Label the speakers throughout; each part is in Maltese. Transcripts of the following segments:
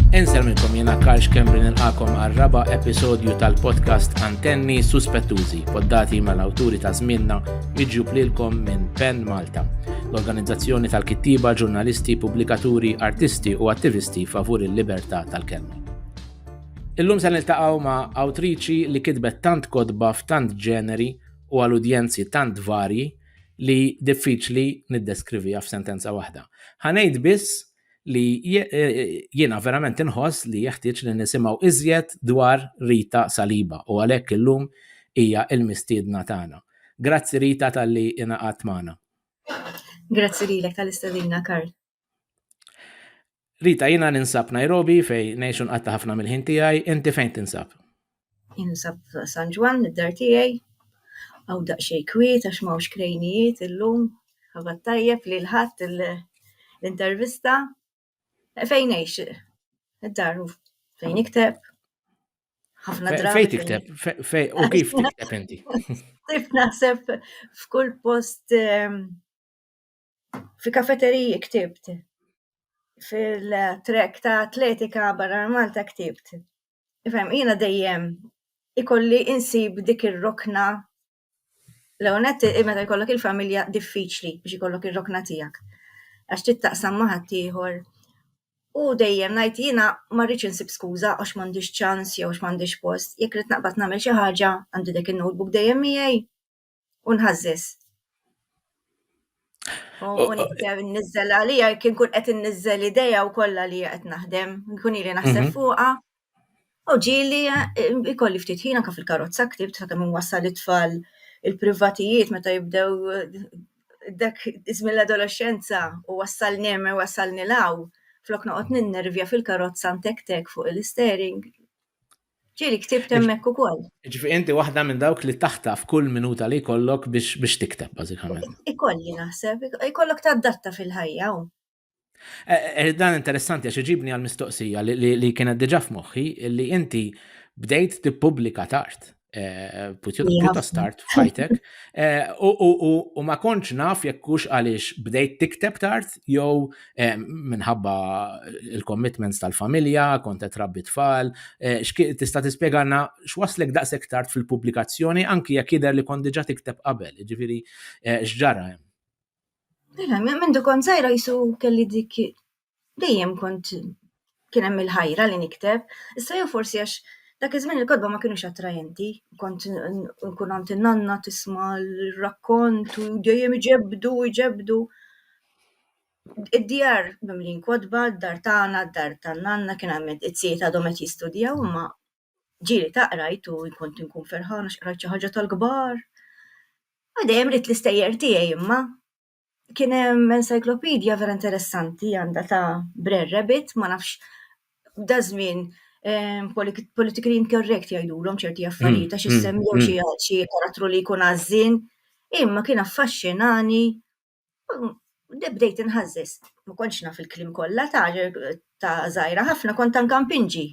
Speaker 1: Insel minnkom jena Karl Kembri nilqakom għal-raba episodju tal-podcast Antenni Suspettużi, poddati mal-awturi ta' żmienna iġu plilkom minn Pen Malta, l-organizzazzjoni tal-kittiba, ġurnalisti, pubblikaturi, artisti u attivisti favur il-libertà tal-kelma. Illum se niltaqgħu ma' awtriċi li kitbet tant kodba f'tant ġeneri u għal udjenzi tant varji li diffiċli niddeskriviha f'sentenza waħda. Ħanejt biss li jiena verament inħoss li jeħtieġ li nisimgħu iżjed dwar Rita Saliba u għalhekk illum hija l-mistiedna tagħna. Grazzi Rita tal-li inaqat magħna.
Speaker 2: Grazzi lilek tal-istedina Karl. Rita,
Speaker 1: jina ninsab Nairobi fej nejxun qatta ħafna mill-ħin tijaj, inti fejn tinsab? Jinsab
Speaker 2: San Ġwan, id-dar tijaj, għaw daqxej kwiet, għax mawx krejnijiet illum, għabat tajjeb li l-ħat l-intervista. E, fejn nejx, id-dar fejn ikteb, ħafna drabi. Fejn tikteb,
Speaker 1: fej, u kif tikteb inti? Kif naħseb
Speaker 2: f'kull post ehm, Fi kafeteriji ktibt. Fil-trek ta' atletika barra Malta ktibt. Ifhem, jiena dejjem ikolli insib dik ir-rokna l-ewwel nett meta jkollok il-familja diffiċli biex ikollok ir-rokna tiegħek għax trid taqsam ma' ħaddieħor u dejjem ngħid jiena ma rridx insib skuża għax m'għandix ċans jew għax m'għandix post, jekk rrid naqbad nagħmel xi ħaġa għandi dak in-notebook dejjem miegħi. u nħażżeż. U nibdew nizzel għalija, kien kun qed nizzel ideja u kollha li qed naħdem, nkun ili naħseb mhm. fuqha. U ġili eh, ikolli ftit ħin anke fil-karozza ktibt ta' kemm wassal it-tfal il-privatijiet meta jibdew eh, dak iżmin l-adolescenza u wassal nemme wassal nilaw flok noqgħod ninnervja fil-karozza ntektek fuq il-istering. Ġieli ktibt hemmhekk ukoll. Ġifi inti waħda
Speaker 1: minn dawk li taħtaf kull minuta li jkollok biex biex tikteb bażikament. Ikolli naħseb,
Speaker 2: ikollok tadatta fil-ħajja. Eh, eh,
Speaker 1: eh, dan interessanti għax iġibni għal mistoqsija li kienet diġà f'moħħi li inti bdejt tippubblika tard. Eh, pjuttost tard fajtek. Eh, u ma konċ naf jekk hux għaliex bdejt tikteb tard jew Eh, minħabba il-commitments tal-familja, kont qed rabbi tfal, eh, tista' tispjegana x'waslek daqshekk tard fil-pubblikazzjoni anki jekk jidher li kont diġà tikteb qabel, jiġifieri eh, x'ġara hemm. Mela,
Speaker 2: minn dukon sajra jisu kelli dik dejjem kont kien hemm il-ħajra li nikteb, issa jew forsi għax dak iż-żmien il-kotba ma kienux attrajenti, kont nkun għand in-nanna tisma' l-rakkont u dejjem iġebdu, iġebdu. Id-djar mimlin kotba, d-dar tagħna, d-dar tan-nanna kien hemm it-tzijiet għadhom qed jistudjaw imma ġieli ta' qrajt u kont inkun ferħana x'qrajt xi ħaġa tal-kbar. U dejjem ridt l-istejjer tiegħi imma kien hemm encyclopedia vera interessanti għandha ta' Brer Rabbit, ma nafx da żmien ehm, politi- politically incorrect jgħidulhom ċerti affarijiet għax issemmew xi xi karattru li jkun għażin, imma kien affaxxinani mm, de bdejt inħażżeż. Ma kontx naf il-kliem kollha ta' ta' żgħira ħafna kont anke mpinġi.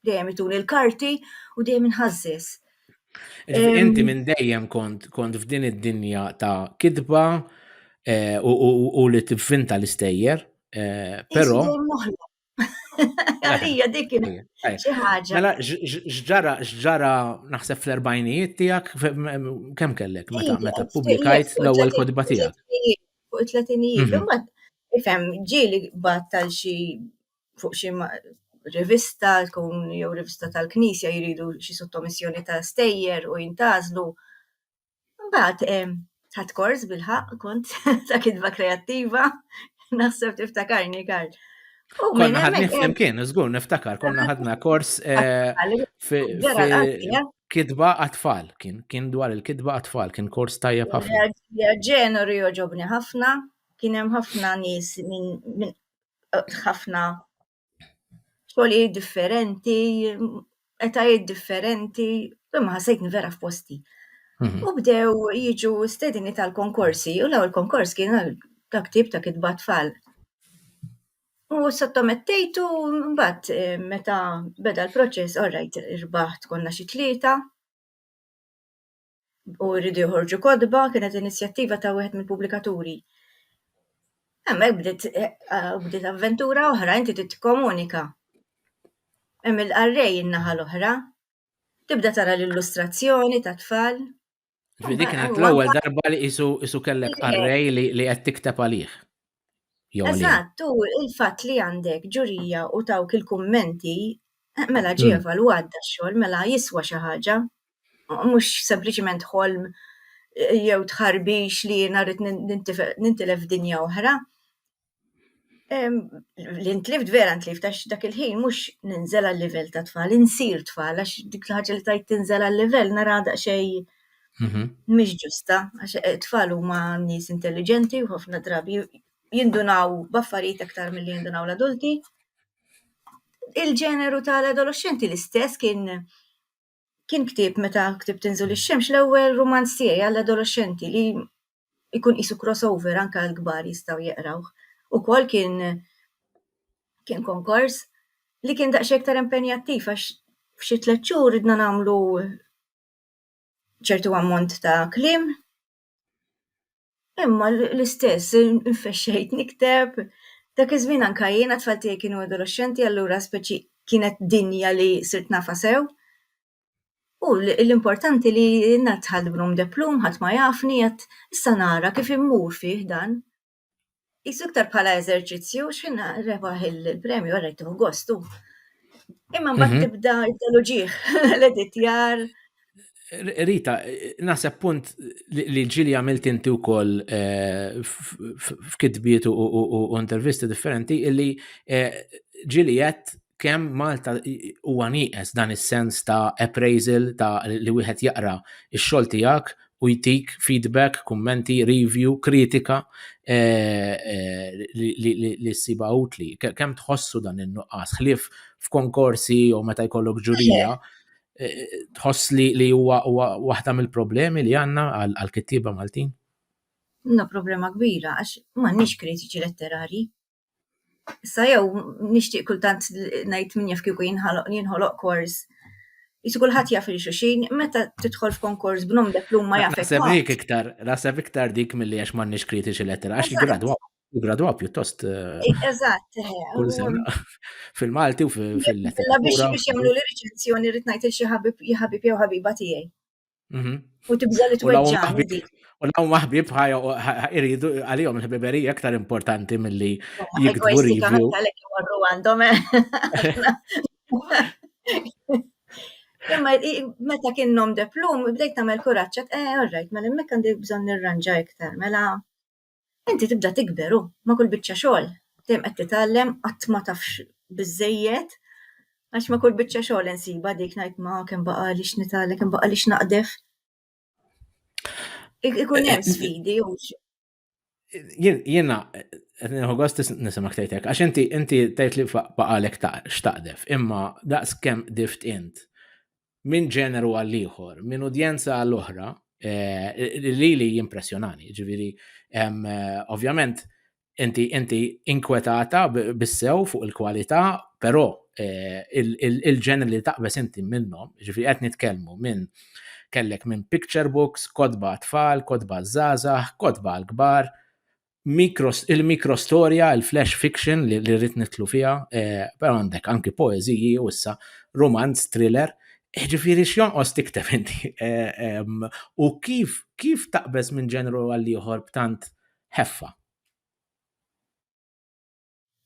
Speaker 2: dejjem ituni l-karti u dejjem inħażżis.
Speaker 1: Inti minn dejjem kont kont f'din id-dinja ta' kidba eh, u li tivvinta l-istejjer, eh, però. Għalija
Speaker 2: dik xi ħaġa. Mela x'ġara
Speaker 1: x'ġara naħseb fl-erbajnijiet tiegħek kemm kellek meta meta pubblikajt l-ewwel kodba tiegħek. Fuq it-tletinijiet,
Speaker 2: imbagħad ifhem ġieli bat tal xi fuq xi rivista tkun jew rivista tal-Knisja jridu xi sottomissjoni ta' stejjer u jintgħażlu. Mbagħad ħadd kors bil-ħaq kont ta' kitba kreattiva, naħseb tiftakarni Karl. Konna ħadni
Speaker 1: flimkien, żgur niftakar, konna ħadna kors kitba għatfall, kien kien dwar il-kitba għatfall, kien kors tajjeb ħafna. Ġenori
Speaker 2: joġobni ħafna, kien hemm ħafna nies minn ħafna xogħlijiet differenti, etajiet differenti, imma ħassejtni vera f'posti. Mhm. U bdew jiġu stedini tal-konkorsi, u law il-konkors kien għal dak tip ta' kitba tfal. U sottomettejtu mbagħad eh, meta beda l-proċess, orrajt irbaħt konna xi tlieta. u rridu joħorġu kotba, kienet inizjattiva ta' wieħed mill-pubblikaturi. Hemmhekk bdiet eh, eh, bdiet avventura oħra, inti trid tikkomunika. Hemm il-qarrej in-naħa l-oħra. Tibda tara l-illustrazzjoni ta' tfal. Ġifieri dik
Speaker 1: kienet l-ewwel darba li isu isu kellek qarrej li li qed tikteb għalih. Eżatt, u il-fatt
Speaker 2: li għandek ġurija u tawk il-kummenti, eh, mela ġie hmm. evalwat da
Speaker 1: xogħol,
Speaker 2: mela jiswa xi ħaġa, mhux sempliċiment ħolm eh, jew tħarbix li narit nintilef dinja oħra. Li ntlift vera ntlift għax dak il-ħin mhux ninżel għal-livell ta' tfal, insir tfal għax dik l-ħaġa li tajt tinżel għal-livell nara daqsxejn Mhm. Mhix ġusta, għax it-tfal huma nies intelligenti u ħafna drabi jindunaw b'affarijiet aktar milli jindunaw l-adulti. Il-ġeneru tal-adolescenti l-istess kien kien ktib meta ktib tinżul ix-xemx l-ewwel rumanz tiegħi għall-adolescenti li jkun qisu crossover anke l-kbar jistgħu jeqrawh. Ukoll kien kien konkors li kien daqsxejn iktar impenjattiv għax f'xi tliet xhur ridna nagħmlu ċertu ammont ta' kliem, imma l-istess infexxejt nikteb, dak iż-żmien anka jien għat-tfal tiegħi kienu adoloxxenti allura speċi kienet dinja li sirt nafha sew, u l-importanti li ngħadd ħadd b'num de plume ħadd ma jafni, issa nara kif immur fih dan. Isu iktar bħala eżerċizzju, xħin rebaħ il-premju għarrajtu gostu. Imma ma mhm. tibda id-daloġiħ, l-editjar.
Speaker 1: Rita, naħseb punt li ġili għamilt inti u koll eh, f'kitbiet u intervisti differenti, illi eh, ġili jett kemm Malta huwa nieqes dan is-sens ta' appraisal ta' li wieħed jaqra x-xogħol tiegħek u jtik feedback, kummenti, review, kritika eh, eh, li s-siba utli. Kem tħossu dan il-nuqqas, ħlif f'konkorsi jew meta jkollok ġurija, eh, tħoss li huwa waħda mill-problemi li għanna għal-kittiba Maltin? No,
Speaker 2: problema kbira, għax m'għandniex kritiċi letterari. Issa jew nixtieq kultant ngħid min jaf kieku jinħoloq jinħoloq kors. Jisu kulħadd jaf il xuxin, meta tidħol f'konkors b'nom deplum ma jafek. Naħseb dik iktar, naħseb
Speaker 1: iktar dik milli għax m'għandniex kritiċi lettera, għax jigradwa, jigradwa pjuttost. Eh, eżatt. Eh,
Speaker 2: kull sena
Speaker 1: fil-Malti u fil-lettera. Biex jagħmlu
Speaker 2: l-riċenzjoni rrid ngħid il xi ħabib jew ħabiba tiegħi. Mhm. U tibża li tweġġani dik. U law maħbib
Speaker 1: ħajja iridu għalihom il-ħbiberija aktar importanti milli jikdbu review. Għalek jmorru għandhom.
Speaker 2: Eh. Imma meta kien nom de plum, bdejt tagħmel kuraġġ, eh, all right, mela hemmhekk għandi bżonn nirranġa iktar, mela Inti tibda tikber u, ma' kull biċċa xogħol, dejjem qed titgħallem, qatt ma tafx biżżejjed, għax ma' kull biċċa xogħol insibha dik ngħid ma kemm baqgħali x'nitgħallem, kemm baqgħali x'naqdef. Ikun hemm sfidi u
Speaker 1: Jiena Nħu għost nisimak tejtek, għax inti inti tejt li baqalek xtaqdef, imma daqs kem dift int minn ġeneru għal ieħor, minn udjenza għal oħra, eh, li li jimpressjonani, ġiviri, eh, ovvjament, inti inti inkwetata bissew fuq il-kwalità, però eh, il-ġener li taqbes inti minnhom, ġifi qed nitkellmu minn kellek minn picture books, kodba tfal, kodba żgħażagħ, kodba l-kbar, il-mikrostorja, il-flash fiction li rrit nitlu fija, eh, pero għandek anki poeziji u issa romanz, thriller, eh, ġifiri xjonqos tiktef inti. Eh, u kif, kif taqbez minn ġenru għal-liħor b'tant ħeffa?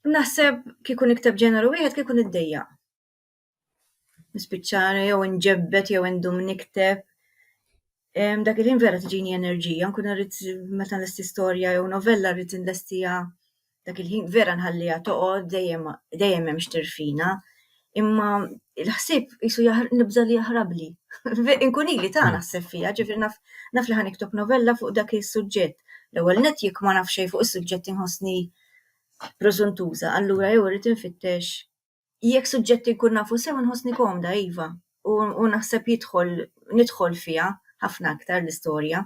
Speaker 2: Naħseb kikun ikteb ġeneru wieħed kikun id-dejja. Nispiċċara jew inġebbet jew indum nikteb. Dak il-ħin vera tiġini enerġija, nkun rrid meta nlesti storja jew novella rrid inlestiha dak il-ħin vera nħalliha toqgħod dejjem dejjem hemm xtirfina. Imma l-ħsieb qisu nibża' li jaħrabli. Inkun ili ta' hmm. naħseb fija, ġifieri naf naf li ħaniktob novella fuq dak is-suġġett. L-ewwel net jekk ma nafx xejn fuq is-suġġett inħossni preżuntuża, allura jew irrid infittex jekk suġġetti jkun nafu sew nħossni komda iva, u naħseb jidħol nidħol fiha ħafna aktar l-istorja.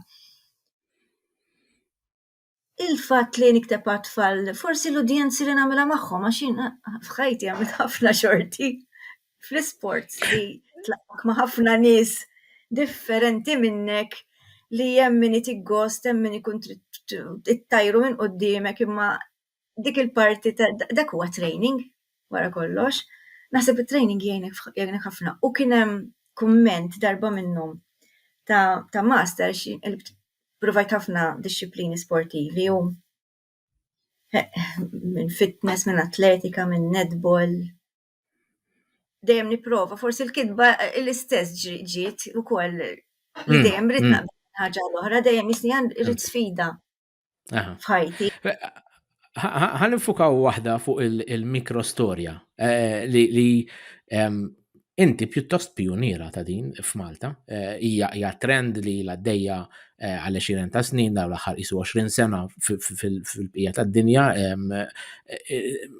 Speaker 2: Il-fatt li nikteb għat-tfal, forsi l-udjenzi li nagħmilha magħhom għax jien f'ħajti għamilt ħafna xorti fl-isports li tlaqgħek ma' ħafna nies differenti minnek li hemm min itik gost, hemm min ikun trid ittajru minn quddiemek imma dik il-parti ta' dak huwa training wara kollox. Naħseb it-training jgħinek ħafna. U kien hemm kumment darba minnhom ta', ta master provajt ħafna disċiplini sportivi u minn fitness, minn atletika, minn netball. Dejjem nipprova, forsi l-kitba l-istess ġiet ukoll li hmm, dejjem rid hmm. naqbel ħaġa l-oħra, dejjem jisni rrid sfida. f'ħajti.
Speaker 1: Ħan infukaw waħda fuq il-mikro storja eh, li inti pjuttost pionira ta' din f'Malta. Eh, hija trend li l għaddejja eh, għal 20 ta' snin daw l-aħħar isu 20 sena fil-bqija tad-dinja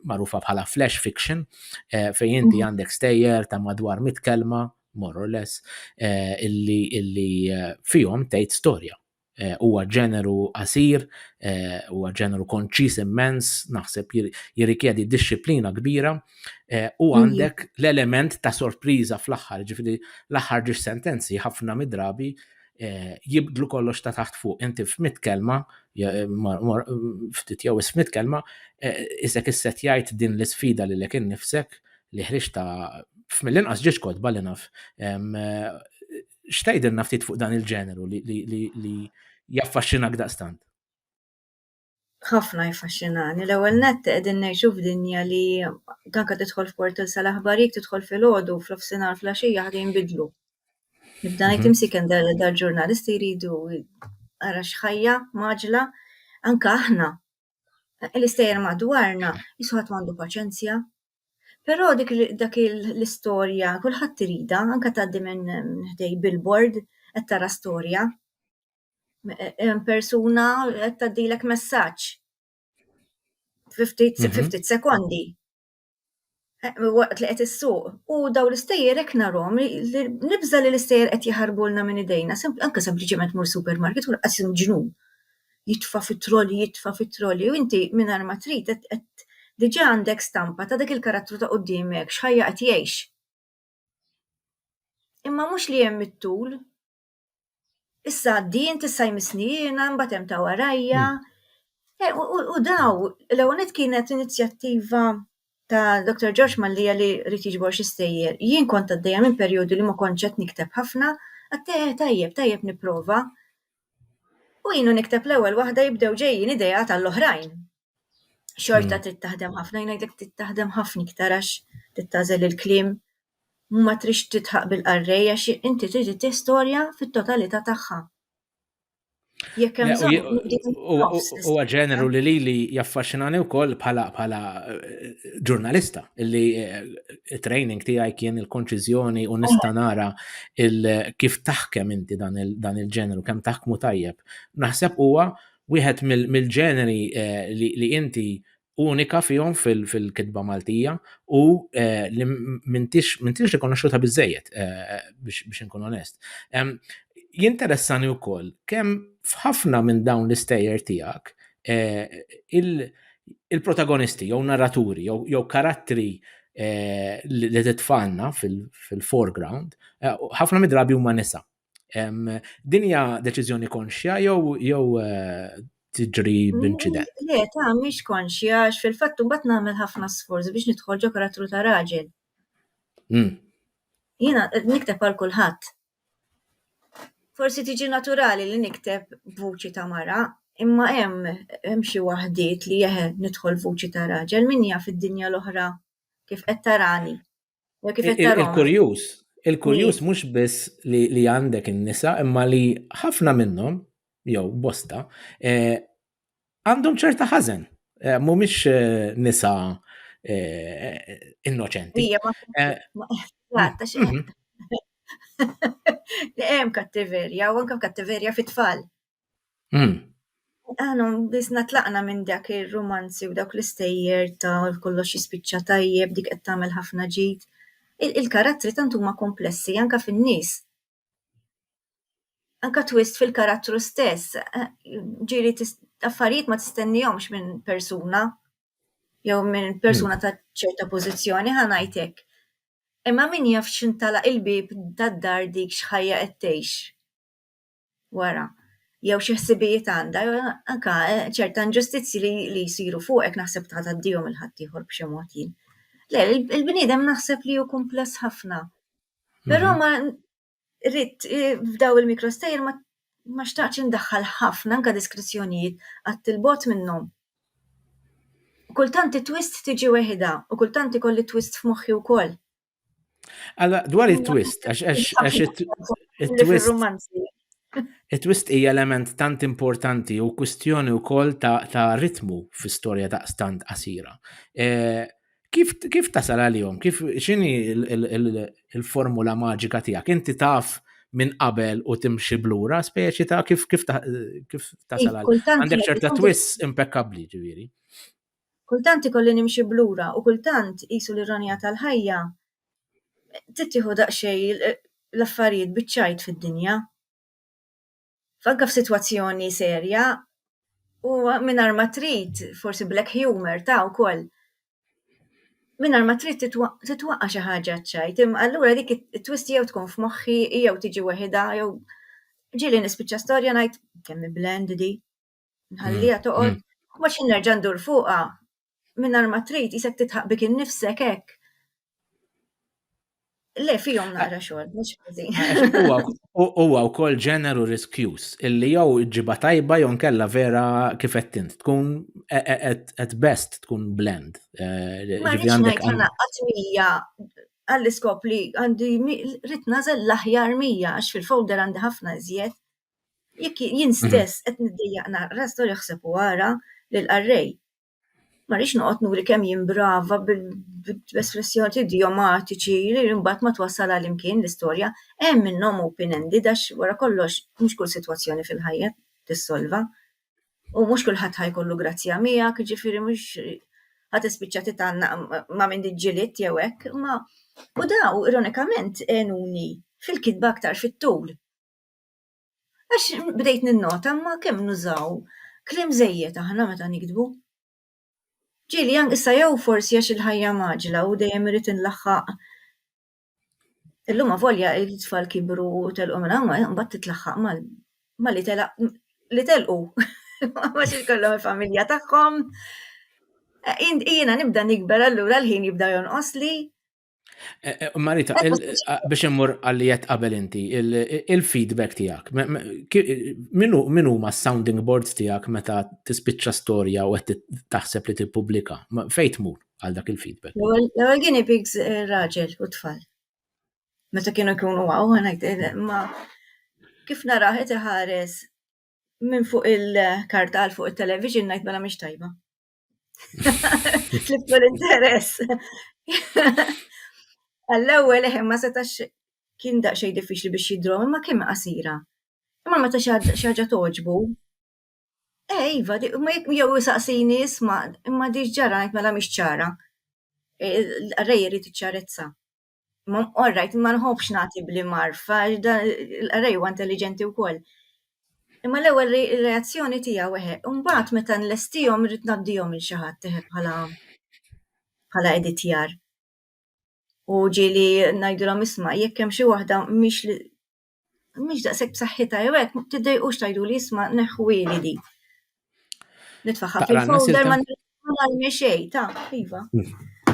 Speaker 1: magħrufa bħala flash fiction fejn inti mm. għandek stejjer ta' madwar mit kelma more or less illi fihom tgħid storja Eh, huwa ġeneru qasir, eh, huwa ġeneru konċis immens, naħseb jirrikjedi disċiplina kbira, eh, u mhm. għandek l-element ta' sorpriża fl-aħħar, ġifiri l-aħħar ġiex sentenzi ħafna midrabi jibdlu kollox ta' taħt fuq. Inti f'mit kelma, ftit jew ismit kelma, isek isset jgħid din l-isfida li l-ekin nifsek li ħriġ ta' f'mill-inqas ġiex kodba li naf xtajdilna ftit fuq dan il-ġeneru li, li, li, li jaffaxxinak daqstant? ħafna
Speaker 2: jfaxxinani. L-ewwel nett qegħdin ngħixu f'dinja li tanka tidħol f'portal sal-aħbarijiet tidħol fil-għodu fl-ofsinhar fl-għaxija ħadd jinbidlu. Nibda ngħid mhm. imsiken dal-ġurnalisti jridu ara x'ħajja maġla anke aħna l-istejjer madwarna jiswa ħadd m'għandu paċenzja. Però dik dak l-istorja kulħadd irida, anke tgħaddi minn ħdej billboard qed tara storja. Hemm persuna qed tgħaddilek messaġġ fi ftit mhm. sekondi. eh, waqt li qed issuq. U daw l-istejjer hekk narhom li nibża li l-istejjer qed jaħarbulna minn idejna, anke sempliċement mur supermarket u qas ġnun. Jitfa fit-troli, jitfa fit-troli, u inti mingħajr ma trid qed diġà għandek stampa ta' dak il-karattru ta' qudiemek x'ħajja qed jgħix. Imma mhux li hemm it-tul, Issa din tista' jmissni jiena mbagħad hemm ta' warajja. Hmm. Eh, u daw, l-ewwel kienet inizjattiva ta' Dr. George Mallija li rrit jiġbor xi stejjer. Jien kont għaddejja minn perjodu li ma kontx qed nikteb ħafna, għattejja eh, tajjeb, tajjeb nipprova. U jienu nikteb l-ewwel waħda jibdew ġejjin idea tal-oħrajn. Xorta hmm. trid taħdem ħafna, jnajdek trid taħdem ħafna iktar għax trid tażel il-klim ma trix titħaq bil-qarrej għax inti trid tih storja fit-totalità tagħha. Jekk hemm huwa
Speaker 1: ġeneru li lili jaffaxxinani wkoll bħala bħala eh, ġurnalista illi eh, training tiegħi kien il-konċiżjoni u nista' nara kif taħkem inti dan il-ġeneru kemm taħkmu tajjeb. Naħseb huwa wieħed mill-ġeneri li inti unika fihom fil-kitba Maltija u eh, li mintix rikonoxxuta biżejjed eh, biex inkun onest. Jinteressani wkoll kemm f'ħafna minn dawn l-istejjer tiegħek eh, il-protagonisti jew narraturi jew karattri li titfanna fil-foreground ħafna midrabi huma nisa. Din hija deċiżjoni konxja jew jew eh, tiġri b'inċident? Mm, le, ta' mhix
Speaker 2: konxja għax fil-fatt imbagħad nagħmel ħafna sforz biex nidħol ġo karattru ta' raġel. Mm. Jiena eh, nikteb għal kulħadd. Forsi tiġi naturali li nikteb vuċi ta' mara, imma hemm hemm xi waħdiet li jeħe nidħol vuċi ta' raġel min jaf id-dinja l-oħra kif qed tarani. Il-kurjus, il-kurjus
Speaker 1: mhux biss li għandek in-nisa imma li ħafna minnhom jew bosta eh, għandhom ċerta ħażen. Eh, mhumiex eh, nisa innoċenti.
Speaker 2: Li hemm kattiverja u anke kattiverja fit-tfal. Mm. Għanu, biz natlaqna minn dak il-romanzi u dak l-istejjer ta' kollox jispiċċa tajjeb, dik qed tagħmel ħafna ġid. Il-karattri tant huma komplessi anka fin-nies. Anka twist fil-karattru stess, eh, ġiri affarijiet ma tistennihomx minn persuna jew minn persuna ta' ċerta pożizzjoni ħanajtek. Imma min jaf x'intala il-bib tad-dar dik x'ħajja qed tgħix. wara, jew xi ħsibijiet għandha, jew anka eh, ċerta inġustizzji li, li jsiru fuqek naħseb ta' taddihom il-ħaddieħor b'xi mod jien. Le, il-bniedem naħseb li hu kumpless ħafna. Però mhm. ma rrit eh, f'daw il-mikrostejjer ma ma xtaqx indaħħal ħafna anka diskrizzjonijiet għat il-bot minnhom. Kultant it-twist tiġi weħida u kultant ikolli twist f'moħħi wkoll.
Speaker 1: Alla, dwar it-twist, għax it-twist. It-twist hija element tant importanti u kwistjoni wkoll ta' ritmu fi storja ta' stand qasira. E, kif, kif tasal għalihom? Kif x'inhi il-formula maġika tiegħek? Inti taf minn qabel u timxi blura, speċi ta' kif kif tasal għalihom. Għandek ċerta twist impeccabbli ġifieri. Kultant
Speaker 2: ikolli nimxi b'lura u kultant qisu l-ironija tal-ħajja tittieħu daqsxejn l-affarijiet biċ-ċajt fid-dinja. F'anka f'sitwazzjoni serja u mingħajr ma trid, forsi black humour ta' wkoll, mingħajr ma trid titwa, titwaqqa' xi ħaġa ċ-ċajt. Imma allura dik it-twist jew tkun f'moħħi jew tiġi weħidha jew ġieli nispiċċa storja ngħid, kemm hi bland di! Nħallija mm, toqgħod, mm. ma xi nerġa' ndur fuqha mingħajr ma trid isek titħaq bik innifsek hekk. Le fihom naqra xogħol, mhux ħażin. Huwa wkoll
Speaker 1: ġeneru riskjus illi jew ġiba tajba jew nkella vera kif qed tint tkun e, e, e, at best tkun blend. Eh, ma rridx
Speaker 2: ngħid ħana qatt mija għall-iskop li għandi rrit nażel l-aħjar mija għax fil-folder għandi ħafna iżjed. Jekk jien mhm. stess qed niddejjaq naqra storja ħseb u ara lil qarrej. Ma rix noqgħod nuri kemm jien brava bl-espressjoni idiomatiċi li mbagħad ma twassal għal imkien l-istorja. Hemm minnhom open ended għax wara kollox mhux kull sitwazzjoni fil-ħajja tissolva. U mhux kulħadd ħajkollu grazzja miegħek, ġifieri mhux ħadd ispiċċa titanna ma minn diġġiliet jew hekk, ma u daw ironikament enuni fil-kitba aktar fit-tul. Għax bdejt ninnota imma kemm nużaw kliem żejjed aħna meta niktbu. Ġieli ank issa jew forsi għax il-ħajja mgħaġġla u dejjem irrid inlaħħaq illum avolja t-tfal kibru u telqu minn hawn, imbagħad titlaħħaq mal mal-li telaq li telqu għax ikollhom il-familja tagħhom. Jiena nibda nikber allura l-ħin jibda jonqosli Eh,
Speaker 1: eh, Marita, eh, biex immur għalli jett qabel inti, il-feedback tijak, minu ma sounding boards tijak meta tispiċċa storja u għet taħseb li t-publika, fejt mur għal dak il-feedback? L-għal gini pigs
Speaker 2: raġel u tfal. Meta kienu kienu għaw, għanajt, ma kif naraħet iħares minn fuq il-kartal fuq il-television najt bala miex tajba. Tliftu l-interess. Għall-ewwel eħe ma setax kien daqsxejn diffiċli biex jidrom, imma kien qasira. Imma meta xi ħaġa toġbu, eh, iva, ma jekk jew saqsini isma' imma diġ ġara ngħid mela mhix ċara. Rej irid iċċarezza. Ma all right, ma nħobbx nagħti bli marf, għax da l-qrej huwa intelliġenti wkoll. Imma l-ewwel reazzjoni tiegħu eħe, imbagħad meta nlestihom irrid ngħaddihom il xi ħadd eħe bħala bħala editjar. U ġieli ngħidilhom isma' jekk hemm xi waħda mhix mhix daqshekk b'saħħitha jew hekk, tiddejqux tgħidu li jisma' neħħuili di. Nitfaħħa fil-folder ma narmi xejn, ta' iva.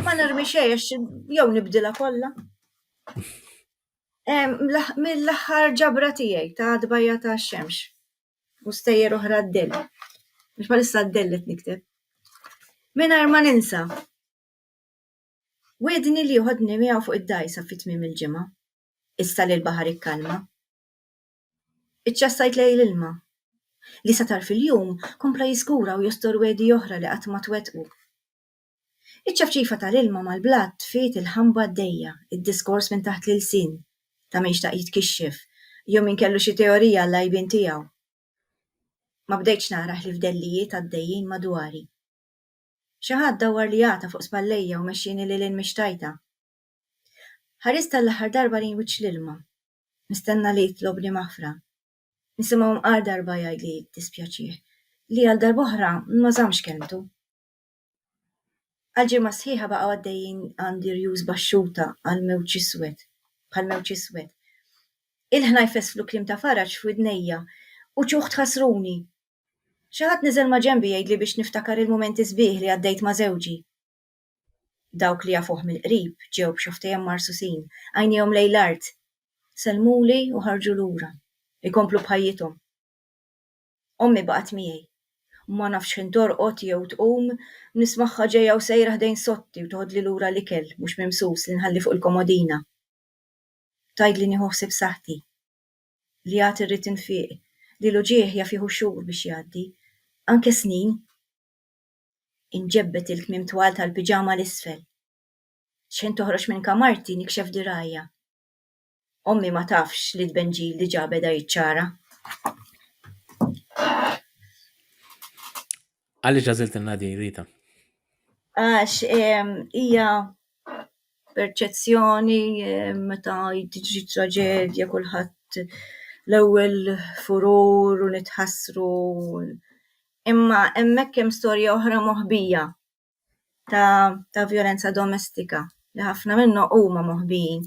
Speaker 2: Ma narmi xejn għax jew nibdilha kollha. Mill-aħħar ġabra tiegħi ta' dbajja ta' xemx u stejjer oħra d-dell. Biex ma lissa d-dell qed nikteb. Mingħajr ma ninsa. Wedni li joħodni miegħu fuq id-dajsa fit-tmiem il-ġimgħa. issa li l-baħar ikkalma. Iċċassajt lejn l-ilma, li sa tarf il-jum kompla jiżgura u jostor wegħdi oħra li qatt ma twettqu. Iċ-ċafċifa tal-ilma mal-blat tfiet il-ħamba għaddejja, id-diskors minn taħt l-ilsien, ta' min xtaq jitkixxef, jew min kellu xi teorija għall-għajbien tiegħu. Ma bdejtx nara ħlief dellijiet għaddejjin madwari. Xi ħadd dawwarli għata fuq spallejja u mexxieni lil hinn mix-xtajta. Ħarist għall-aħħar darba lejn wiċċ l-ilma, nistenna li jitlob li maħfra. Nisimgħu mqar darba jgħid li jiddispjaċih li għal darb'oħra ma żammx kelmtu. Għal ġimgħa sħiħa baqgħu għaddejjin għand irjus baxxuta għal mewġ iswed, bħal mewġ iswed. Il-ħna jfesslu kliem ta' faraġ f'widnejja, uċuh tħassruni. Xi ħadd niżel maġenbi jgħidli biex niftakar il-mumenti sbieħ li għaddejt ma' żewġi. dawk li jafuh mill-qrib ġew b'xi ħtejjem marsusin, għajnejhom lejn l-art, sellmuli u ħarġu lura, ikomplu b'ħajjithom. Ommi baqgħet miegħi. Ma nafx x'ħin torqod jew tqum, nismagħha ġejja u sejra ħdejn sotti u toħodli lura l-ikel mhux mimsus li nħalli fuq il-komodina. Tgħidli nieħu ħsieb saħħti. Li għad irrid infieq, li l-uġigħ jaf jieħu xhur biex jgħaddi, anke snin. Inġebbed il-kmiem twal tal-piġama 'l isfel. Xħin toħroġ minn kamarti nikxef dirgħajja. Ommi ma tafx li t-tbenġil diġà beda jiċċara.
Speaker 1: Għaliex għażiltilna din, Rita?
Speaker 2: Għax ehm, hija perċezzjoni ehm, meta tiġri traġedja kulħadd l-ewwel furur u nitħassru Imma hemmhekk hemm storja oħra moħbija ta' ta' violenza domestika li ħafna minnhom huma moħbijin.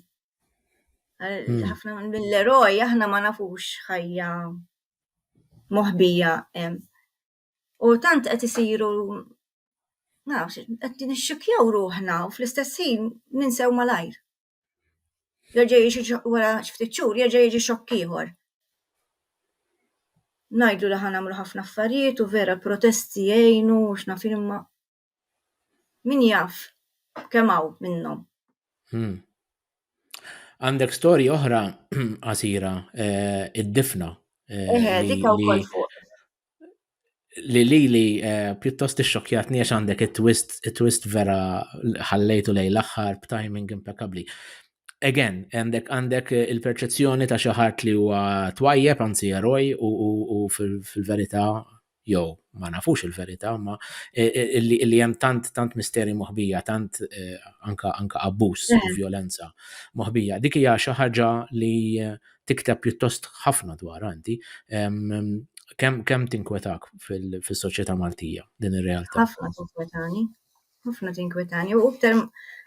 Speaker 2: Hmm. ħafna mill-eroj aħna ma nafux ħajja moħbija hemm. U tant qed isiru nafx, qed nixxukjaw ruħna u fl-istess ħin ninsew malajr. Jerġa' jiġi wara ftit xhur jerġa' jiġi xokk ieħor. Ngħidlu li ħan nagħmlu ħafna affarijiet u vera protesti jgħinu u x'naf imma min jaf kemm hawn minnhom. Hmm.
Speaker 1: Għandek storji oħra qasira eh, id-difna. Eh, Eħe,
Speaker 2: dik wkoll fuq.
Speaker 1: li li li eh, pjuttost ixxokjatni għax għandek it-twist, it-twist vera ħallejtu lej l-aħħar b'timing impeccabli. Again, għandek għandek eh, il-perċezzjoni ta' xi ħadd li huwa twajjeb anzi eroj u fil-verità jew ma nafux il-verità, ma eh, li hemm tant tant misteri moħbija, tant anka anka abbuż u violenza moħbija. Dik hija xi ħaġa li tikteb pjuttost ħafna dwar anti. Kemm kem tinkwetak fil-soċjetà Maltija din ir-realtà? Ħafna tinkwetani.
Speaker 2: Ħafna tinkwetani. U iktar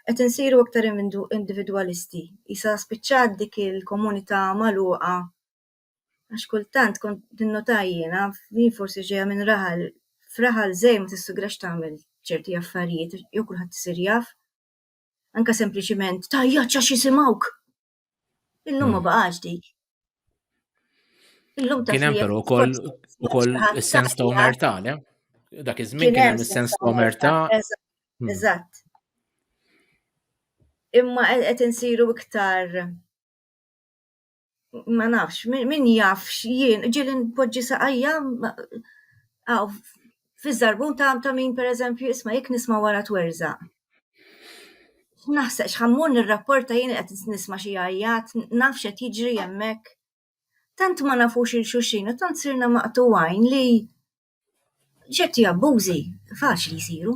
Speaker 2: qed insiru iktar individwalisti. Isa spiċċat dik il-komunità magħluqa. Għax kultant kont tinnota jiena, jien forsi ġejja minn raħal, f'raħal żej ma tissugrax tagħmel ċerti affarijiet, jew kulħadd isir jaf. Anka sempliċiment tajjaċ għax jisimgħuk. Illum ma hmm. baqax dik. Illum ta' Kien hemm però ukoll
Speaker 1: ukoll is-sens ta' omertà, le? Dak iż-żmien kien hemm is-sens ta' omertà. Hmm. Eżatt.
Speaker 2: Imma qed insiru iktar ma nafx, min jafx jien, ġieli npoġġi saqajja Fiż-żarbun ta' ta' min pereżempju isma' jekk nisma' wara twerżaq. Naħseb x'ħammur nirrapporta jien qed nisma' xi għajjat, naf x'qed jiġri hemmhekk. Tant ma nafux il xulxin u tant sirna maqtugħin li ċerti abbużi faċli jsiru.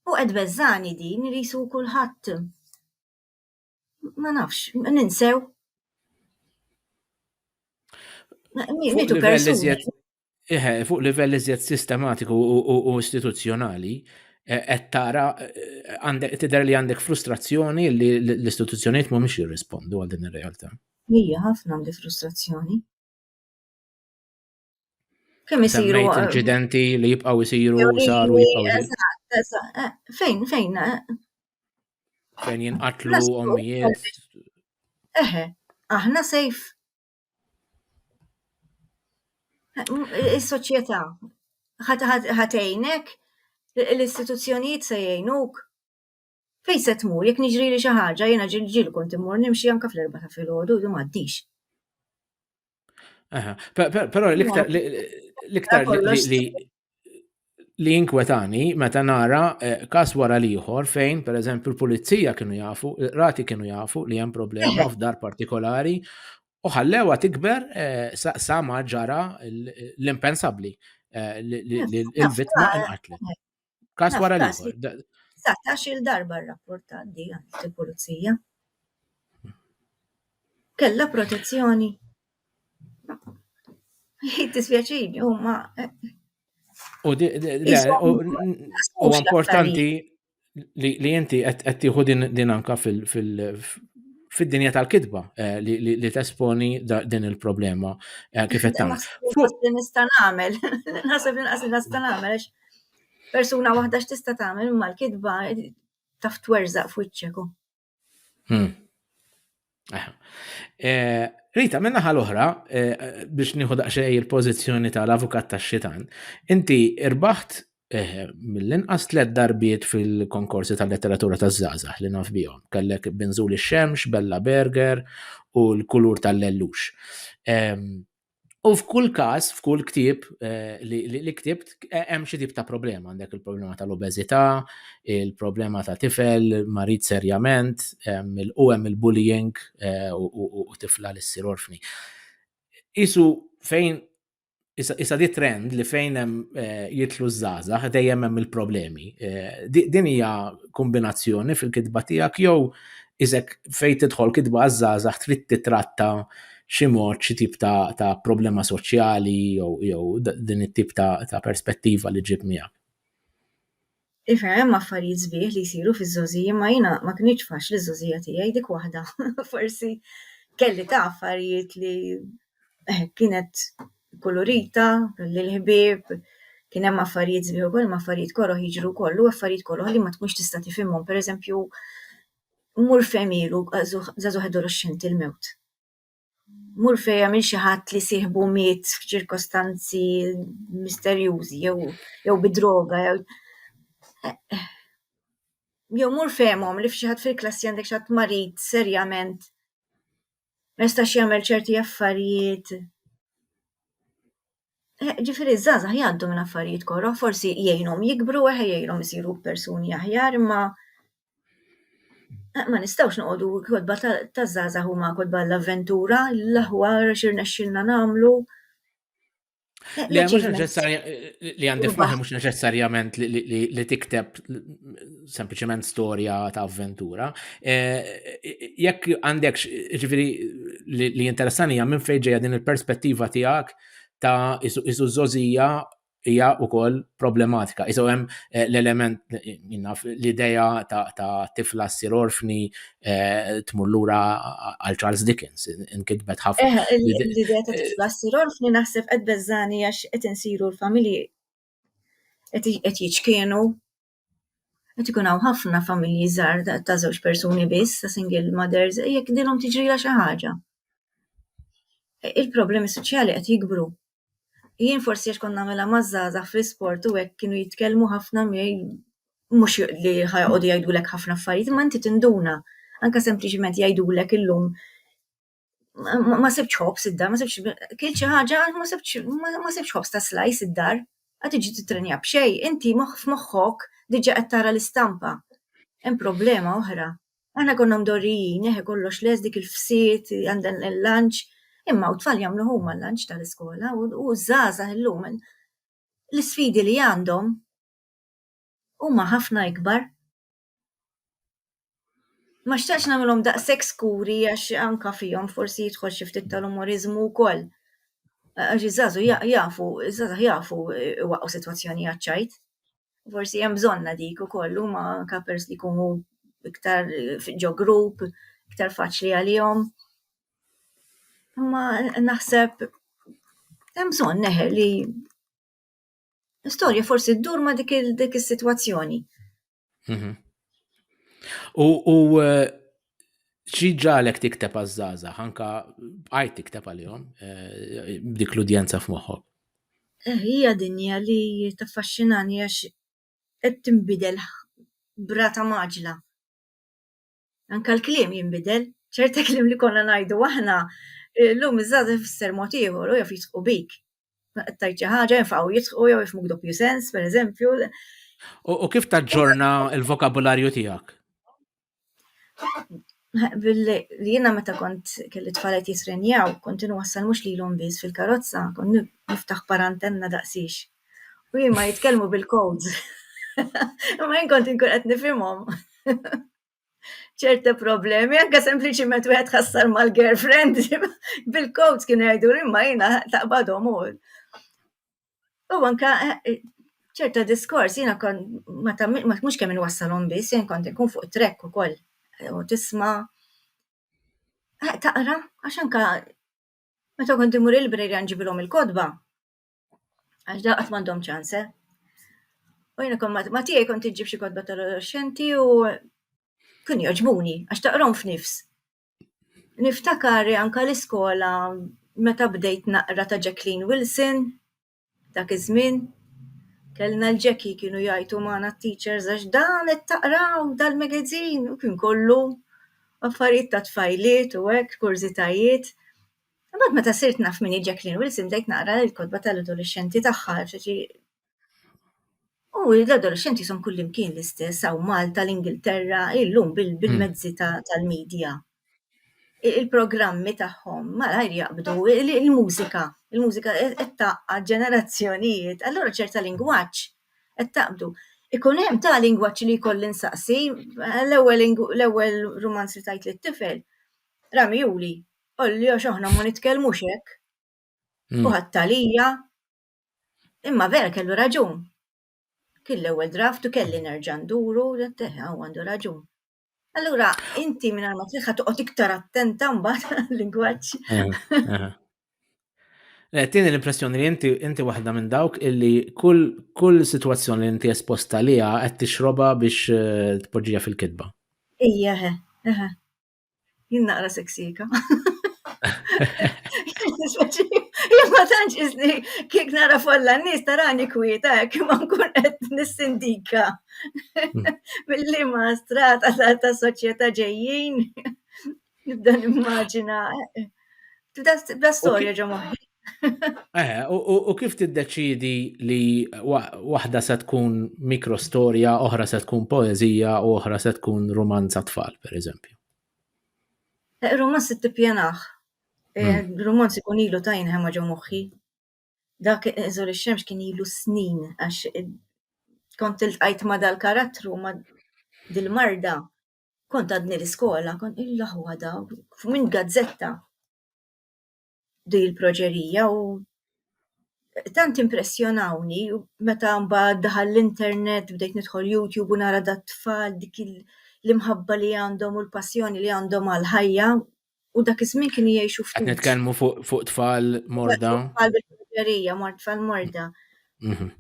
Speaker 2: U qed tbeżżagħni din li jsu kulħadd Ma nafx, ninsew.
Speaker 1: Mitu persuni. Eħe, fuq livell iżjed sistematiku u istituzzjonali, e, qed tara e, tidher li għandek frustrazzjoni li l-istituzzjonijiet mhumiex jirrispondu għal din ir-realtà. Hija ħafna għandi
Speaker 2: frustrazzjoni. Kemm isiru eh, inċidenti
Speaker 1: li jibqgħu jsiru saru jibqgħu eh,
Speaker 2: Fejn fejn eh?
Speaker 1: fejn jinqatlu ommijiet. Eħe,
Speaker 2: aħna sejf. Is-soċjetà ħatejnek l-istituzzjonijiet se jgħinuk. Fejn se tmur? Jekk niġrili xi ħaġa, jiena ġilġiel kont immur nimxi anke fl-erba' ta' filgħodu, du m'għaddix. Aha,
Speaker 1: però l-iktar l-iktar li li inkwetani meta nara eh, kas wara liħor fejn, per eżempju, l-pulizija kienu jafu, rati kienu jafu li hemm problema f'dar partikolari u ħallewa tikber eh, sa ma ġara l-impensabli eh, li l-vittma inqatlet. Kas wara li. Satax il-darba
Speaker 2: rrapportat di għand il-pulizija. Kella protezzjoni. Jitisvjaċini, u ma.
Speaker 1: U importanti li inti qed tieħu din anka fil-dinja tal-kitba eh, li tesponi din il-problema eh, kif qed tagħmel. Fuq nista' nagħmel,
Speaker 2: naħseb inqas nista' nagħmel persuna waħda x'tista' tagħmel imma l-kitba taf twerżaq f'wiċċek. Hmm. Eh.
Speaker 1: Eh, Rita, minna ħal oħra eh, biex nieħu daqsxejn il-pożizzjoni tal-avukat tax-xitan, inti irbaħt mill-inqas tliet darbiet fil-konkorsi tal-letteratura taż-żgħażagħ li naf bihom. Kellek Benzuli Xemx, Bella Berger u l-kulur tal-lellux. Ehm, U f'kull każ, f'kull ktieb eh, li ktibt, eh, hemm xi tip ta' problema. Għandek il-problema tal-obeżità, il-problema ta' tifel, marid serjament, u hemm il-bullying eh, u tifla li ssir orfni. Isu fejn Issa di trend li fejn hemm jitlu żgħażagħ dejjem hemm il-problemi. Din hija kombinazzjoni fil-kitba tiegħek jew Iżek fejn tidħol kitba għaż-żgħażagħ trid titratta xi mod xi tip ta', ta problema soċjali jew din it-tip ta', ta perspettiva li ġib miegħek.
Speaker 2: Iva, hemm affarijiet sbieħ li jsiru fiż-żożi, imma jiena ma kinitx faċli ż-żożija tiegħi dik waħda. Forsi kelli ta' affarijiet li kienet kulurita lill-ħbieb, kien hemm affarijiet sbieħ ukoll imma affarijiet koroh jiġru wkoll u affarijiet koroh li ma tkunx tista' tifhimhom, pereżempju, mur fejn ilu żagħżugħ adolexxenti l-mewt. Mur fejn hemm xi ħadd li sieħbu miet f'ċirkostanzi misterjużi jew jew bi droga jew jew mur fehmhom li f'xi ħadd fil-klassi għandek xi ħadd marid serjament. ma jistax jagħmel ċerti affarijiet. Eh, Ġifieri ż-żgħażagħ jgħaddu minn affarijiet koroh, forsi jgħinhom jikbru, eħe jgħinhom isiru persuni aħjar, imma eh, ma nistgħux noqogħdu kodba ta' ta' żgħażagħ huma kodba l-avventura, l-aħwar x'irnexxilna nagħmlu. Le, mux
Speaker 1: neċessarja, li għandi f'maħi mux neċessarjament li tikteb sempliciment storja ta' avventura. Eh, jekk għandek, ġifiri, li interessani għam minn fejġeja din il-perspettiva tijak ta' isu zozija hija wkoll problematika. Iżgħu hemm eh, l-element eh, l-idea ta' tifla ssir orfni Eh, tmur lura għal Charles Dickens, inkitbet ħafna. Eh, eh, l-idea ta' tifla
Speaker 2: s-sir orfni naħseb qed beżani għax qed insiru l-familji qed jiċkienu. Qed ikun hawn ħafna familji żgħar ta' żewġ persuni biss, ta' single mothers, jekk dilhom tiġrila xi ħaġa. Il-problemi soċjali qed jikbru. Jien forsi għax kont nagħmilha maż-żgħażagħ fl-isport u hekk kienu jitkellmu ħafna miegħi mhux li ħajqogħdu jgħidulek ħafna affarijiet, imma inti tinduna. Anke sempliċiment jgħidulek illum ma sibtx ħobż id-dar, ma sibtx kilt xi ħaġa għax ma sibtx ma sibtx ħobż ta' slajs id-dar. Qed tiġi tittrenja b'xejn, inti moħħ f'moħħok diġà qed tara l-istampa. Hemm problema oħra. Aħna konna mdorrijin, eħe kollox les dik il-fsiet, għandan il-lanċ, imma u tfal jagħmlu huma l-lanċ tal-iskola u żgħażagħ illum l-isfidi li għandhom huma ħafna ikbar. Ma xtaqx nagħmilhom daqshekk skuri għax anka fihom forsi jidħol xi ftit tal-umoriżmu wkoll. Għax iż-żgħażu jafu, iż-żgħażagħ jafu iwaqqgħu sitwazzjonijiet ċajt. forsi hemm bżonna dik ukoll huma anke pers li jkunu iktar ġo grupp, iktar faċli għalihom. Ma naħseb hemm bżonn neħe li storja forsi ddur ma dik dik is-sitwazzjoni. Mhm.
Speaker 1: U eh, Xi ġalek tikteb għaż-żgħażagħ anka bqajt tikteb għalihom eh, b'dik l-udjenza f'moħħok? Eh, hija
Speaker 2: dinja li taffaxxinani għax qed tinbidel brata maġla. Anka l-kliem jinbidel, ċerta kliem li konna ngħidu aħna eh, llum iż-żgħażagħ ifisser mod ieħor u jaf jisqu bik. Tajt xi ħaġa jinfaqgħu jisqu jew jifmuk doppju sens, pereżempju. U
Speaker 1: kif taġġorna l-vokabularju tiegħek?
Speaker 2: Jiena meta kont kelli tfalet jitrenjaw, kont inwassal mhux lilhom biss fil-karozza, kont niftaħ parantenna daqsiex. U huma jitkellmu bil-codes. Imma jien kont inkun qed nifhimhom. ċerti problemi, anke sempliċiment wieħed tħassar mal-girlfriend, bil-codes kienu jgħiduli imma jiena taqbadhom u. U anka eh, eh, ċerta diskors, jina kon, ma mux kemm nwassalhom biss, jien kont nkun fuq trek u koll, eh, u tisma. Taqra, għax anka, meta kont imur il-brejri nġibilhom il-kodba, għax da qatt m'għandhom ċanse. U jina kon ma tiegħi kont iġġib xi kodba tal-adolescenti u kun joġbuni, għax taqrom f'nifs. Niftakar anka l-iskola meta bdejt naqra ta' Jacqueline Wilson, dak iż-żmien, kellna l-Jackie kienu jgħajtu magħna t-teachers għax dan qed taqraw, dal-magazin, u kien kollu affarijiet ta' tfajliet u hekk, kurżitajiet. Imbagħad meta sirt naf min hi Jacqueline Wilson bdejt naqra l-kotba tal-adolexxenti tagħha, ġifieri... U l-adolescenti son kullimkien l-istess, għaw Malta, l-Ingilterra, illum hmm. bil-mezzi tal-medja. Il-programmi tagħhom malajr jaqbdu il-mużika, il-mużika qed taqqa' ġenerazzjonijiet, allura ċerta lingwaġġ qed taqbdu. Ikun hemm ta' lingwaġġ li jkolli nsaqsi, l-ewwel rumanz li tajt lit-tifel, rami juli, olli għax aħna ma nitkellmux hekk. Hmm. U ħattalija, Imma vera kellu raġun. Kien l-ewwel draft u kelli nerġa' nduru u għandu raġun. Allura inti minn ma tliħħa toqgħod iktar attenta mbagħad lingwaġġ.
Speaker 1: Eh, tieni l-impressjoni li inti inti waħda minn dawk illi kull kull sitwazzjoni li inti esposta liha qed tixroba biex eh, tpoġġija fil-kitba. Ija,
Speaker 2: eħe. Jien naqra seksika. Imma tanċ izni kik nara folla nis tarani kwieta, kima nkun qed nissindika. Billi ma strata ta' soċjetà ġejjin, nibda nimmaġina. Tibda storja ġo moħħi. Eh,
Speaker 1: u kif tiddeċidi li waħda se tkun mikrostorja, oħra se tkun poezija u oħra se tkun romanza tfal, per eżempju?
Speaker 2: Eh, romanz se tippjanaħ. Eh, hmm. Romanz ikun ilu ta' jinħema ġo moħħi. Dak eżor ix-xemx kien ilu snin għax kont il-tqajt ma dal-karattru ma dil-marda kont għadni l-iskola, kont il-laħwa da, minn gazzetta din il-proġerija u tant impressjonawni meta mbagħad daħal l-internet bdejt nidħol YouTube u nara dat-tfal dik l-imħabba li għandhom u l-passjoni li għandhom għall-ħajja u dak iż-żmien kienu jgħixu ftit. Qed nitkellmu fuq
Speaker 1: tfal morda. Tfal bil-proġerija,
Speaker 2: mort tfal morda. Mhm.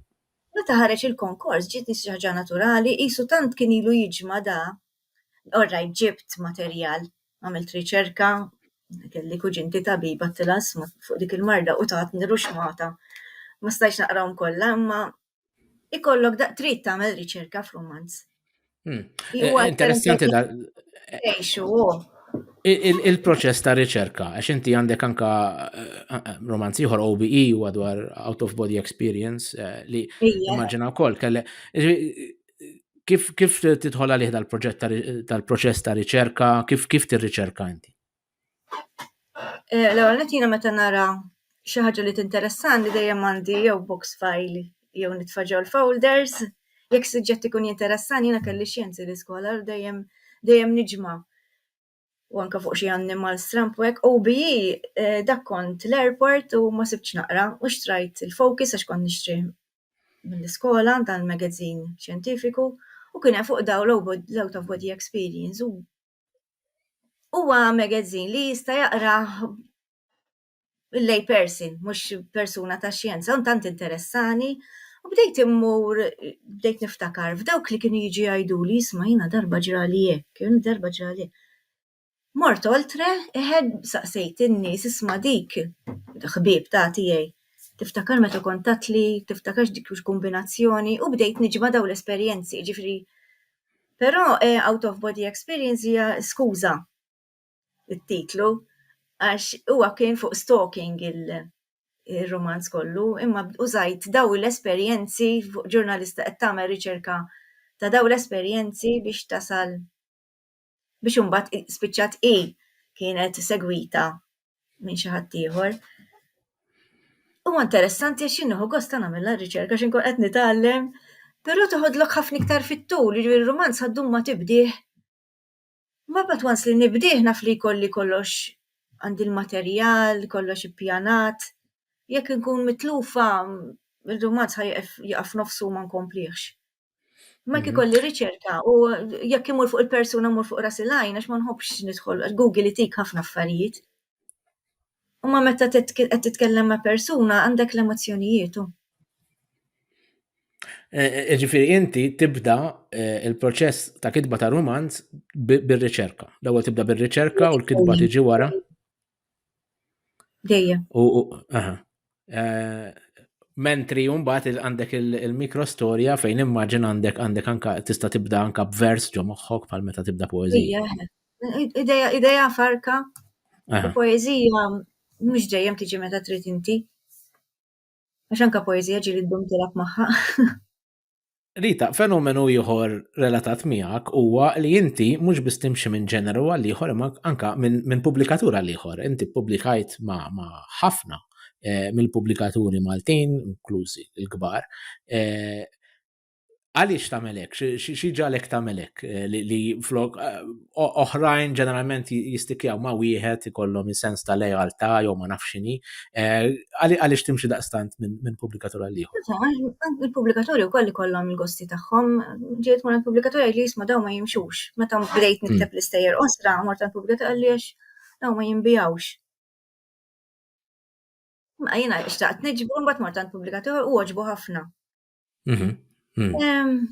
Speaker 2: Meta ħareġ il-konkors ġiet xi ħaġa naturali, qisu tant kien ilu jiġma da Orrajt ġibt materjal, għamilt riċerka, kelli kuġinti tabiba tilażma fuq dik il-marda u tatni ruxxmata. Ma stajtx naqrahom kollha imma ikollok da trid tagħmel riċerka f'rumanz. Hmm. Eh, interessanti
Speaker 1: da. Il-proċess ta' riċerka, għax inti għandek anka eh, eh, romanz ieħor OBE u dwar out of body experience eh, li immaġina wkoll kelle. kif kif tidħol għalih dal-proġett tal-proċess ta' riċerka, kif kif tirriċerka inti? Eh,
Speaker 2: l-ewwel qed jiena meta nara xi ħaġa li tinteressani dejjem għandi jew box file jew nitfaġew l-folders, jekk suġġett ikun jinteressani jiena kelli xjenzi l-iskola dejjem dejjem niġma' u anka fuq xi annimal stramb u hekk, OBE eh, dak kont l-airport u ma sibtx naqra u xtrajt il-Focus għax kont nixtrih mill-iskola dan il-magazin xjentifiku u kien hemm fuq daw l-out of body experience u huwa magazin li jista' jaqrah il-lay person, mhux persuna ta' xjenza, un tant interessani, u bdejt immur, bdejt niftakar, f'dawk li kienu jiġi jgħidu li jisma' jina darba ġrali hekk, kien darba ġrali. Mort oltre, iħed saqsejt in-nies isma' dik, ħbieb ta' tiegħi, tiftakar meta kont tatli, tiftakarx dik kombinazzjoni, u bdejt niġma' daw l-esperjenzi, ġifri, però out of body experience hija skuża. it-titlu għax huwa kien fuq stalking il-romanz kollu, imma użajt daw l-esperjenzi fuq ġurnalista qed tagħmel riċerka ta' daw l-esperjenzi biex tasal biex imbagħad spiċċat hi kienet segwita minn xi ħadd ieħor. Huwa interessanti għax jien nieħu gost nagħmilha r-riċerka għax inkun qed nitgħallem, però toħodlok ħafna iktar fit-tul, jiġifieri r-rumanz ħa ddum ma tibdih. Ma but once li nibdih naf li jkolli kollox għandi l-materjal, kollox ippjanat, jekk inkun mitlufa r-rumanz ħa jieqef jaqa' f'nofsu u ma nkomplihx. Imma jekk ikolli riċerka u jekk imur fuq il-persuna mmur fuq ras il-għajn għax ma nħobbx nidħol, Google itik ħafna affarijiet. Imma meta qed titkellem ma' persuna għandek l-emozzjonijiet. E,
Speaker 1: e, e, ġifiri, inti tibda il-proċess ta' kitba ta' romanz bil-riċerka. L-ewwel tibda bil-riċerka u l-kitba tiġi wara.
Speaker 2: Dejjem.
Speaker 1: Eh, Mentri jumbat għandek il-mikrostorja fejn immaġin għandek għandek anka tista' tibda anka b'vers ġo moħħok pal meta tibda poezija.
Speaker 2: Ideja farka, poezija mhux dejjem tiġi meta trid inti. Għax anka poezija ġili ddum tilab magħha.
Speaker 1: Rita, fenomenu ieħor relatat miegħek huwa li inti mhux biss timxi minn ġeneru għal ieħor imma anka minn min pubblikatur għal ieħor. Inti ppubblikajt ma' ma ħafna eh, mill-pubblikaturi Maltin, inklużi l-kbar. Eh, għaliex tagħmel hekk? Xi ġalek tagħmel hekk eh, li, li flok eh, oħrajn ġeneralment jistikjaw ma' wieħed ikollhom sens ta' lealtà jew ma nafx x'inhi. Eh, għaliex timxi daqstant minn pubblikatur għal ieħor? Il-pubblikatori wkoll
Speaker 2: ikollhom il-gosti tagħhom, ġiet ma' il-pubblikatori li jisma' dawn ma jimxux. Meta bdejt hmm. nikteb l-istejjer osra mort tal-pubblikatur għaliex dawn ma jinbijawx. Ma jiena xtaqt niġbu mbagħad mort tal-pubblikatur u għoġbu ħafna. Mhm, mhm.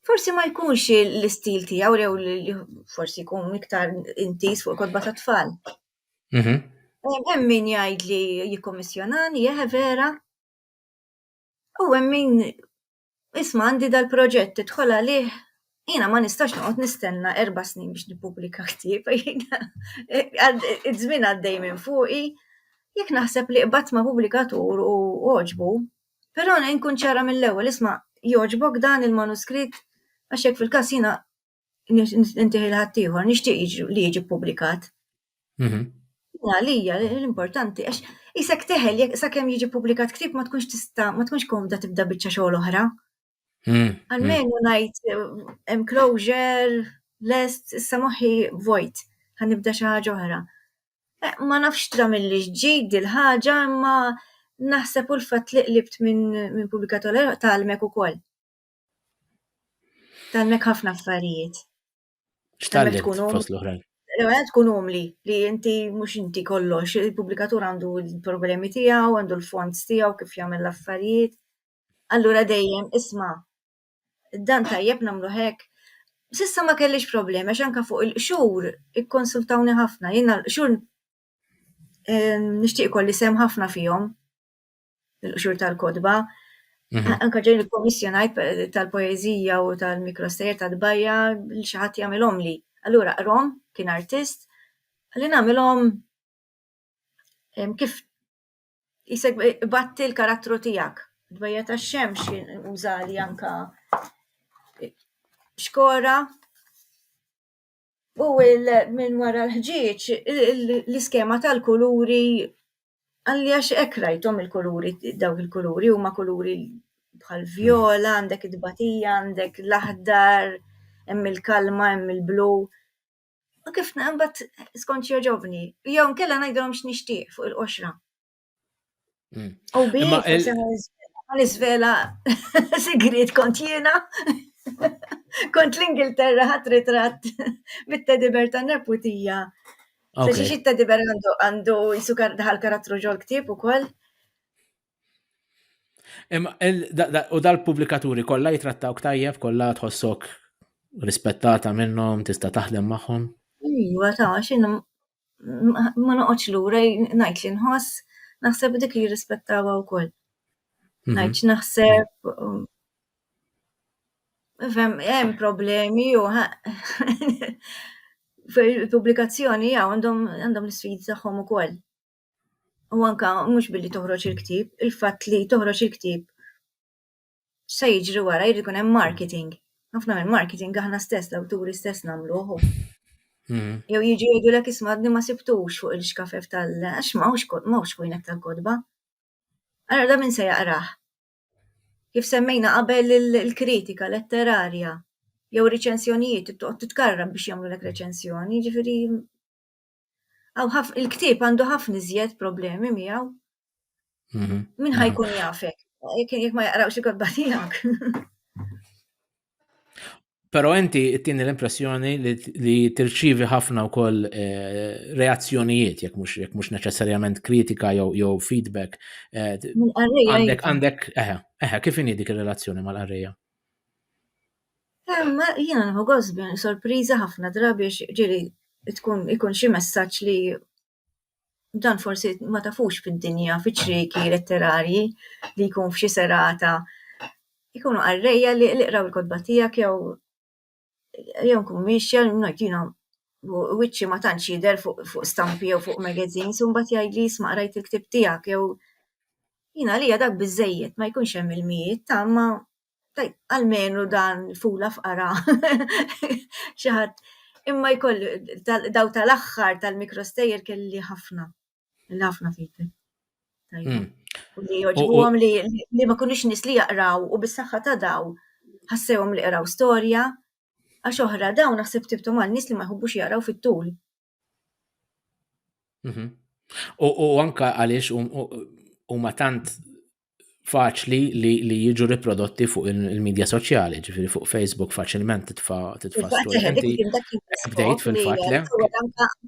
Speaker 2: Forsi ma jkunx l-istil tiegħu jew li forsi jkun iktar intis fuq kodba ta' tfal. Mhm. Hemm min jgħid li jikkommissjonani, jeħe vera. U hemm min isma' għandi dal-proġett tidħol għalih Jina ma nistax noqgħod nistenna erba snin biex nippubblika ktieb, iż-żmien għaddej minn fuqi, jekk naħseb li qbad ma' pubblikatur u oġbu, Però nejn nkun ċara mill-ewwel, isma' jogħġbok dan il-manuskritt għax jekk fil-każ jiena nintieħi lil ħaddieħor nixtieq li jiġi ppubblikat. Mhm. Għalija l-importanti għax isek teħel sakemm jiġi ppubblikat ktieb ma tkunx tista' ma tkunx komda tibda biċċa xogħol oħra. Hmm, Għalmenu hmm. najt enclosure, lest, issa moħi vojt, ħanibda xi ħaġa oħra. Eh, ma nafx tra mill-li ġġid il-ħaġa, imma naħseb u l-fat li qlibt minn min publikator tal-mek u koll. Tal-mek ħafna affarijiet. Xtalli
Speaker 1: tkun l-oħrajn. L-għed tkun umli
Speaker 2: li inti mux inti kollox, il-publikatur għandu l-problemi tijaw, għandu l-fonds tijaw, kif jgħamil l-affarijiet. Allura dejjem isma' dan tajjeb nagħmlu hekk. Sissa ma kellix problemi għax anka fuq il-qxur ikkonsultawni ħafna, jiena l-qxur eh, nixtieq kolli sem ħafna fihom il-qxur tal-kodba. Mhm. Anka ġejn il-komissjonajt tal-poezija u tal-mikrostejer tal-bajja li xi ħadd jagħmilhom li. Allura qrom kien artist li nagħmilhom kif Isek batti l-karattru tijak. Dbajja ta' xemx użali anka xkora u minn wara l-ħġieġ l-iskema tal-kuluri għalli għax ek rajtom il-kuluri dawk il-kuluri u ma' kuluri bħal viola għandek id-batija għandek l-aħdar hemm il-kalma hemm il-blu. U kif naqbat skont joġobni, jew nkella ngħidilhom x'nixtieq fuq il-qoxra. Hmm. U bi l-iżvela sigrit kont jiena. Kont l-Ingilterra ħat ritratt bit-tediber ta' neputija. Se xiex it-tediber għandu jisu daħal karattru ġol ktib u koll.
Speaker 1: U dal-publikaturi kollha jitrattaw tajjeb, kollha tħossok rispettata minnhom, tista' taħdem magħhom. Iva ta'
Speaker 2: x'in ma noqgħodx lura ngħid li nħoss naħseb dik li jirrispettawha wkoll. Mhm. Ngħid naħseb um, Fem, hemm problemi u fil-pubblikazzjoni għandhom l-isfidi tagħhom ukoll. u anka mhux billi toħroġ il-ktib, il-fatt li toħroġ il-ktib se jiġri wara jrid ikun hemm marketing. Ħafna minn marketing aħna stess l-awturi stess nagħmluh. Hmm. Jew jiġu jgħidu lek ismadni ma sibtux fuq il-xkafef tal għax m'hawnx kwinek tal-kodba. Ara da minn se jaqrah. Kif semmejna qabel il-kritika letterarja jew riċensjonijiet titkarra biex jagħmlu lek reċensjoni, ġifieri Il-ktieb għandu ħafna iżjed problemi miegħu. Mhm. Min ħajkun mhm. jafek? Jek ma jaqrawx il-kodba tiegħek. Pero
Speaker 1: inti tini l-impressjoni li tirċivi ħafna u koll eh, reazzjonijiet, jek mux, jek mux neċessarjament kritika jew feedback. Eh, għandek, għandek, eħe, eħe, kif dik il-relazzjoni mal-arreja? Imma
Speaker 2: jiena nieħu gost bini sorpriża ħafna drabi ġieli tkun ikun xi messaġġ li dan forsi ma tafux fid-dinja fiċ-ċrieki letterarji li jkun f'xi serata jkunu qarrejja li qraw il-kotba tiegħek jew jew inkun miexja ngħid jiena wiċċi ma tantx jidher fuq stampi jew fuq magazines u mbagħad jgħidli isma' qrajt il-ktieb tiegħek jew jiena għalija dak biżżejjed ma jkunx hemm ilmijiet ta' imma Tajb, għalmenu dan fula f'qara xi ħadd. Imma jkoll daw tal-aħħar tal-mikrostejjer kelli ħafna. Kelli ħafna fejtek. Tajb. Hmm. U li joġbuhom li ma kunix nis li jaqraw u bis-saħħa ta' daw ħassewhom li qraw storja għax oħra dawn naħseb tibtu mal nies li ma jħobbux jaqraw fit-tul.
Speaker 1: Mhm. U anka għaliex huma tant faċli li, li jiġu riprodotti fuq il-medja soċjali, ġifiri fuq Facebook faċilment titfa titfa studenti. Bdejt fil-fat le.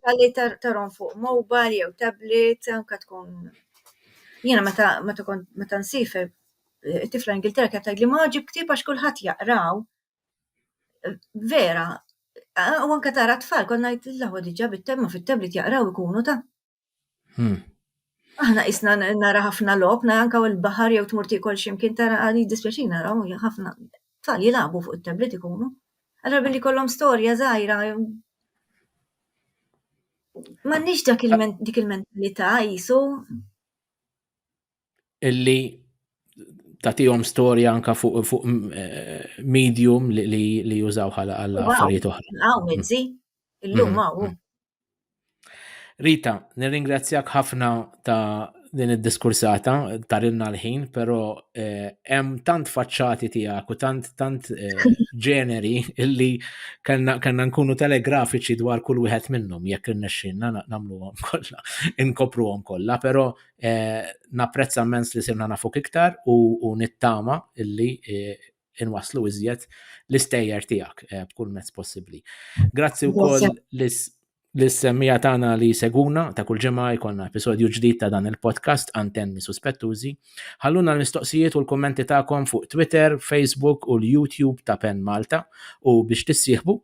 Speaker 1: Għalli
Speaker 2: tarom fuq mobile jew tablet, anka tkun. Jena meta meta nsifer eh, tifla Ingilterra kienet tgħidli ma ġib ktib għax kulħadd jaqraw. vera, u anka tara tfal, konna jt l-ħu diġa bit-temma fit-tablet jaqraw ikunu ta' Hmm. Aħna isna nara ħafna lob, nara anka l-bahar jew tmur tikol ximkien tara għadi dispjaċin naraw ħafna tfal jilabu fuq it-tablet ikunu. Allora billi kollom storja zaħira. Ma nix dak dik il-mentalità jisu. illi
Speaker 1: tatijom storja anka fuq fu eh, medium li, li, li jużaw ħala għal affarijiet oħra. Għaw, mizzi, illum
Speaker 2: mm-hmm. għaw. Mm-hmm. Rita,
Speaker 1: nirringrazzjak ħafna ta' din id-diskursata tarinna l-ħin, pero eh, hemm tant faċċati tiegħek u tant tant eh, ġeneri illi kellna nkunu telegrafiċi dwar kull wieħed minnhom jekk irnexxinna nagħmluhom kollha, inkopruhom kollha, però Eh, napprezza mens li sirna nafuk iktar u nittama illi eh, inwaslu iżjed l-istejjer tiegħek eh, b'kull mezz possibbli. Grazzi wkoll l-semmija tagħna li seguna ta' kull ġimgħa jkollna episodju ġdid ta' dan il-podcast Antenni Suspettużi. Ħalluna l-mistoqsijiet u l-kummenti tagħkom fuq Twitter, Facebook u l-YouTube ta' Pen Malta u biex tissieħbu